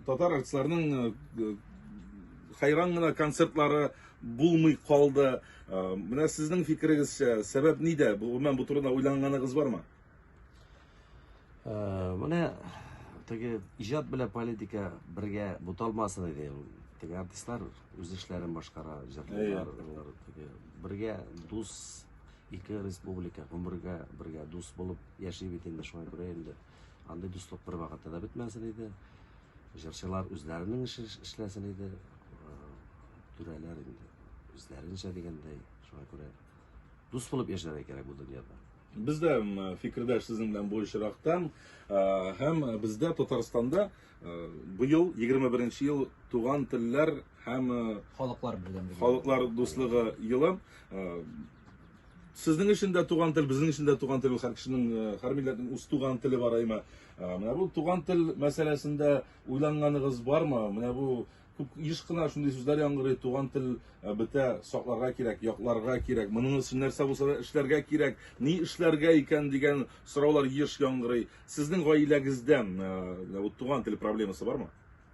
Татар артистларының хайран гына концертлары булмый калды. Менә сезнең фикерегезчә, сәбәп нидә? Гомумән бу турыда уйланганыгыз бармы? Менә теге иҗат белән политика бергә буталмасын иде. Теге артистлар үз эшләрен башкара, җырлыйлар, алар теге бергә дус ике республика гомергә бергә дус булып яши бит инде шуңа күрә инде. Андый дуслык бервакытта да бетмәсен иде. Җырчылар үзләренең эшен эшләсен иде. Э, түрәләр инде үзләренчә дигәндәй. Шуңа күрә дус булып яшәргә кирәк бу дөньяда. Без дә фикердәш сезнең белән бу очрактан э, һәм бездә Татарстанда э, быел 21 ел туган телләр һәм халыклар берләге халыклар дуслыгы елы Сезнең өчен дә туган тел, безнең өчен дә туган тел, һәр кешенең, э, һәр милләтнең үз туган теле бар әйме. Э, менә бу туган тел мәсьәләсендә уйланганыгыз бармы? Менә бу күп еш кына шундый сүзләр яңгырый, туган тел э, бетә, сакларга кирәк, якларга кирәк, моның өчен нәрсә булса да эшләргә кирәк, ни эшләргә икән дигән сораулар еш яңгырый. Сезнең гаиләгездә туган тел проблемасы бармы?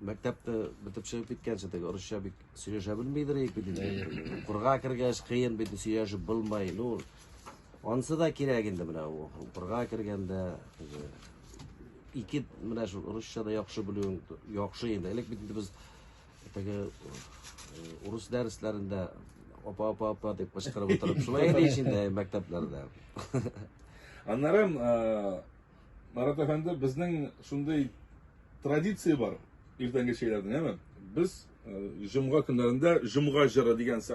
Мәктәптә бетепшә киткәнче теге урысча бик сөйләшә белмидер ик бит инде. Укырга кергәч кыен бит сөйләшеп булмай. Ну, ансы да кирәк инде менә укырга кергәндә теге ике менә шул урысча да яхшы белүең яхшы инде. Элек бит без теге урыс дәресләрендә апа апа апа дип кычкырып утырып шулай иде ич инде мәктәпләрдә. Аннары Марат әфәнде, безнең шундый традиция бар иртәнге чәйләрдә, әме? Без җомга көннәрендә җомга җыры дигән